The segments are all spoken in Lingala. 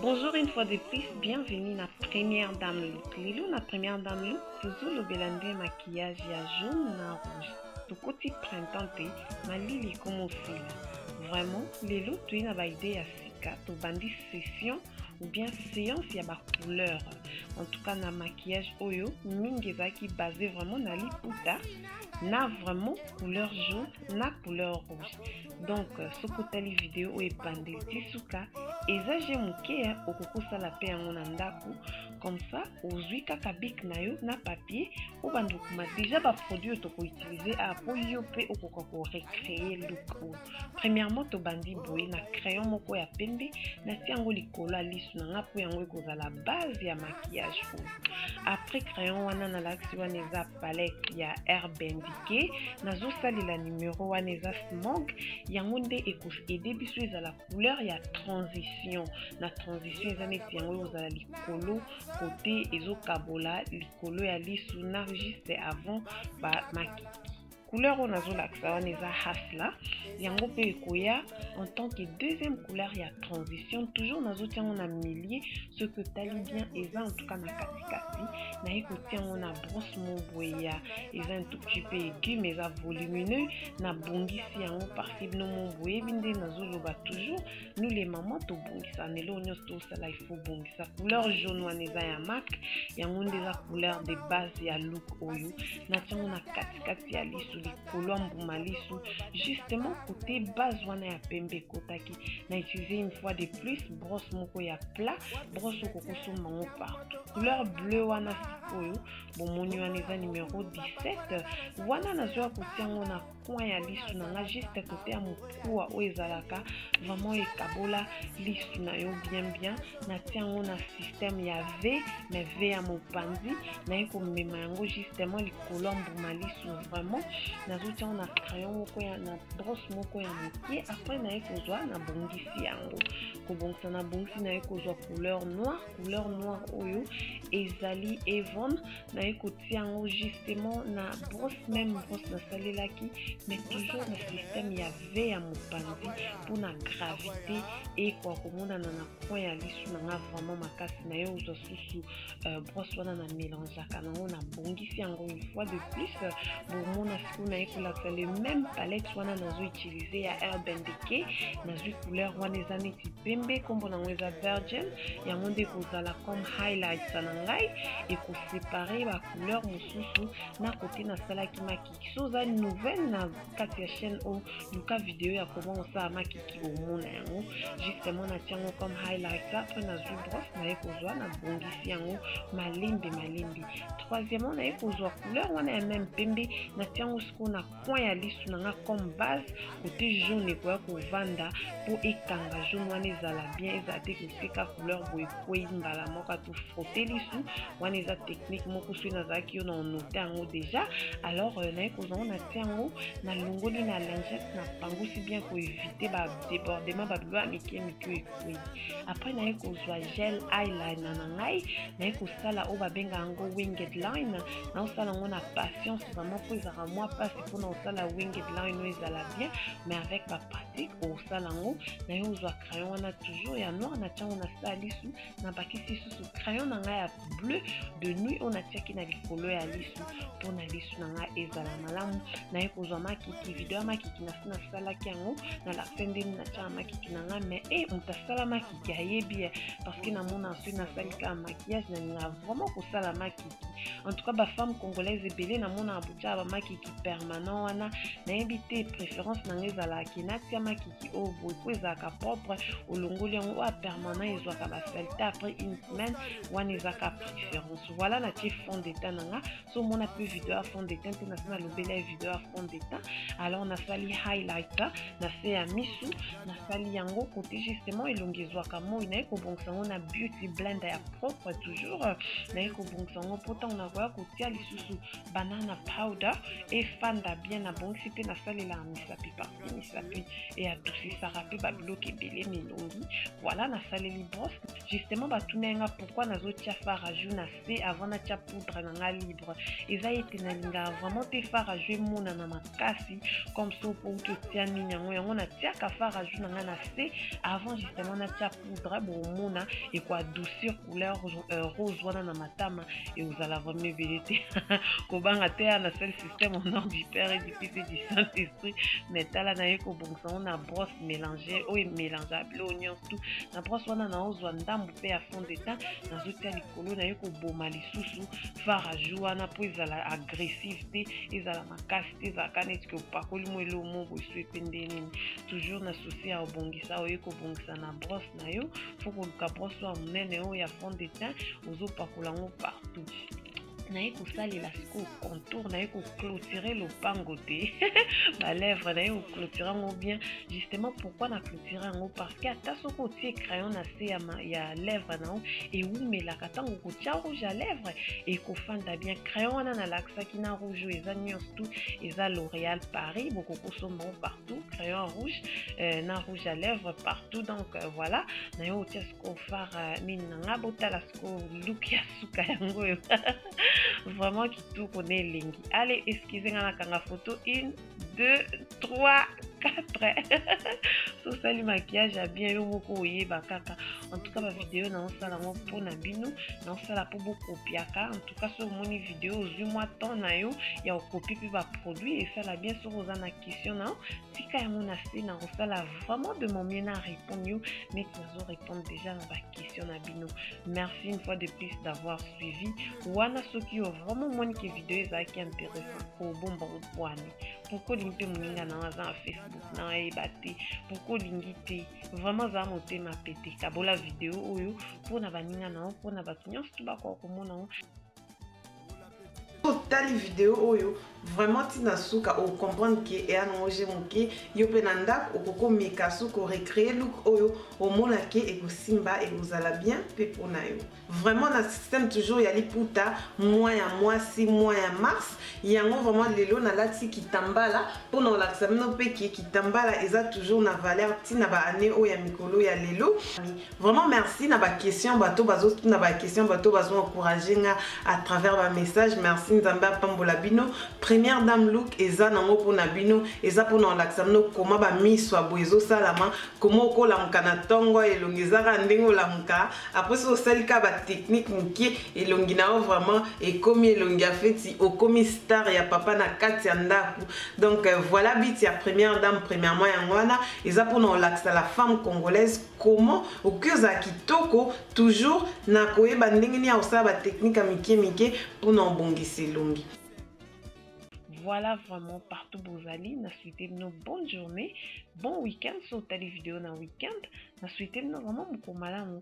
Bonjour une fois de plus, bienvenue na première dame look. Lelo na première dame look, tozolobela nde maquillage ya jaune na rouge. Tokoti printemps te, malili ekomi osila. Vraiment, lelo toye na ba idée ya sika, tobandi session ou bien séance ya ba couleurs. en tout cas na maquillage oyo mingi ezalaki base vraiment na liputa na vraiment couleur jaune na couleur rouge donc euh, soki otali video oyo ebandeli ti suka eza je moke ya okoki kosala mpe yango na ndako comme ça ozwi kaka bik na yo na papier obanda okoma deja baproduit oyo tokoutilize a mpo yo mpe okoka korecreye look oyo Premièrement, tobandi boye na crayon moko ya pembe, natie yango likolo ya lisu na nga mpo yango ekozala base ya maquillage oyo. Après crayon wana nalakisi wana eza palette ya herbe indiquée, nazosalela numero wana eza smog, yango nde ekoaide biso ezala couleur ya transition. Na transition eza neti yango ekozala likolo kote ezokabola likolo ya lisu na juste avant ba maki couleur oyo nazolakisa wana eza hasla yango mpe ekoya en tant que deuxième couleur ya transition toujours nazotia yango na milieu soki otali bien eza en tout cas na katikati naye kotia yango na brosse moboye ya eza un tout petit peu aigu mais eza volumineux nabongisi yango parciblement boyebi nde nazoloba toujours nous les mamans tobongisa na eloko nyonso tosala il faut bongisa couleur jaune wana eza ya mak yango nde eza couleur de base ya look oyo natiango na katikati ya lisu likolo ya mbuma lisu justement kote base wana ya pembe ekotaki na utilise une fois de plus brosse moko ya plat brosse oko kosomba yango partout couleur bleu wana sikoyo bomoni wana eza numero 17 wana nazwa kotia yango na coin ya lisu na nga juste kote ya mokuwa oyo ezalaka vraiment ekabola lisu na yo bien bien natia yango na système ya v mais v ya mopanzi naye komema yango justement likolo ya mbuma lisu vraiment nazotia yango na crayon moko ya na brosse moko ya moke après naye kozwa nabongisi yango kobongisa nabongisi naye kozwa couleur noire couleur noire oyo ezali evon naye kotia yango justement na brosse meme brosse nasalelaki mais toujours na système ya v ya mopanzi mpona gravité ekoa komonana na coin ya lisu na nga vraiment makasi naye ozwa susu euh, brosse wana na mélangeaka nango na bongisi yango une fois de plus bomona mpona ye kolakisa le meme palette wana nazo utilize ya urban decay nazwi couleur wana eza neti pembe nkombo nango eza virgin yango nde ekozala comme highlights na ngai ekosepare bacouleur mosusu na kote nasalaki makiki so oza nouvelle na kati ya chaîne oyo luka video ya koma osala makiki omona yango justement natia yango comme highlights apres nazwi brosse naye kozwa nabongisi yango malembe malembe troisièmement naye kozwa couleur wana ya meme pembe natia yango sikoyo na coin ya lisu na nga comme base kote jaune ekoya kovanda mpo ekanga jaune wana ezala bien ezala te koseka couleur boye ekwei mbala moko atu frotte lisu wana eza technique moko soki nazalaki yo na onote yango déjà alors euh, naye kozwa yango natia yango nalongoli na lingette na pangusi bien koevite badebordement babiloko ya mike mike Oui. Après naye kozwa gel eyeliner na ngai naye kosala oyo babenga yango winged line naosala yango na patience vraiment mpo ezalaka mwa mpasi mpona kosala winged line oyo ezala bien mais avec bapratique okosala yango naye ozwa crayon wana toujours ya noir na tiango na sala lisu nabakisi lisusu crayon na ngai ya bleu de nuit oyo natiaki na likolo ya lisu mpo na lisu na ngai ezala malamu naye kozwa makiki video ya makiki nasi nasalaki yango na la fin ndeni natyaka makiki na ngai mais e eh, moto asala makiki ayebi ye parce que namona soki nasali kaka makiyage nalingaka vraiment kosala makiki en tout cas bafemme congolaise ebele namonaka botyaka bamakiki permanent wana nayebi te préférence na ngai ezalaka ke natya makiki ki oyo boye po ezalaka propre olongoli yango oyo permanent ezwaka basalite après une semaine wana ezaka préférence voilà natie fond de teint na nga so omona mpe video ya fond de teint te nasi nalobeli ya video ya fond de teint alors nasali highlighter na se ya misu nasali yango kote justement elongi ezwaka moi naye kobongisa yango na beauty blender ya propre toujours naye kobongisa yango mpo ntango nakoya kotia lisusu banana powder efanda bien nabongisi mpe nasalelaka misapi parti misapi eadusisaka mpe babiloki ebele milongi voilà nasaleli brosse justement batuna ye nga pourkui nazotia faraju na se avant natia poudre na nga libre eza ete nalingaka vraiment te faraju emonana makasi comme so pouki otia nini yango yango natiaka faraju na nga na se avant justement natia poudre bomona eko adoucir couleur euh, rose wana na matama ekozala vraiment ebele te kobanga te ya na seul système au nom du père et du fils et du saint esprit mais tala na ye kobongisa yango na brosse mélange oyo emélange abilo nyonso tout na brosse wana naozwa ndambo mpe ya fond de teint nazotia likolo na ye koboma lisusu faraju wana mpo ezala agressive te ezala makasi te ezalaka neti ke opakoli mo eloo mo bosue mpe nde nini toujours na souci ya obongisa oye kobongisa na brosse na yo fo koluka brosse oyo ya monene oyo ya fond de teint ozopakola yango partout naye kosalela sikoyo contour naye koclotire lopango te balèvre naye koclotire yango bien justement pourquoi na koretire yango parceke ata soki otie crayon na se ya lèvre na yo ewumelaka ntango kotia rouge ya lèvre ekofanda bien crayon wana nalakisaki na rouge oyo eza nyonso tu eza l'oréal paris bokoki kosomba yango partout crayon rouge euh, na rouge ya lèvre partout donc euh, voilà na yo otia sikoyo fare euh, mini na ngai botala sikoyo look ya suka yango oyo vraiment kitoko na elengi ale excuse ngai nakanga foto une 2 3 4 sosali maquillage ya bien yo moko oyeba kaka en tout cas ba video na osala ngo mpo na bino na osala mpo bokopiaka en tout cas soki omoni video ozwi mwa temps na yo ya okopi mpe ba produit esala bien soki oza na question na yo tika yango na se na kosala vraiment de mon mieux na répondre yo neti nazo répondre déjà na ba question na bino merci une fois de plus d'avoir suivi wana soki yo vraiment omoni ke video ezalaki intéressant kobomba opwani pourkui olingi mpe moninga na aza na facebook na ayeba te pourkui olingi te vraiment azala motema pete kabola video oyo mpo na baninga na yo mpo na bato nyonso to bakoka komona yango otali video oyo vraiment ntina suka ocomprendre ke eya nango je moke yo mpe na ndako okokomeka soki orecree look oyo omona ke ekosimba ekozala bien mpe mpo na yo vraiment na système toujours ya liputa mwa ya mwasi mwa ya mars yango vraiment lelo nalati kitambala mpo na kolakisa bino mpe ke kitambala eza toujours na valeur ntina baannée oyo ya mikolo ya lelo Vraiment merci na ba question bato bazo na ba question bato bazo encourager nga à travers ba message merci Nzambe apambola bino première dame look eza nango pona bino eza pona olakisa bino koma ba miso abo ezo salama koma okolamuka na tongo elongi ezaka ndenge olamuka après soki osali ka ba technique mokie elongi na yo vraiment ekomi elongi ya feti okomi star ya papa na kati ya ndako donc euh, voilà but ya première dame premièrement yango wana eza pona olakisa la femme congolaise comment okoki ozala kitoko toujours na koyeba ndenge nini ya kosala batechnike ya mike mike mpona obongisa elongi Voilà vraiment partout Bozali. Na souhaité une bonne journée, bon week-end. Sur tali vidéo na week-end. Na souhaité une vraiment beaucoup malamu.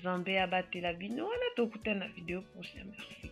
Zambé abatte la bino. Voilà, t'as écouté la vidéo prochaine. Merci.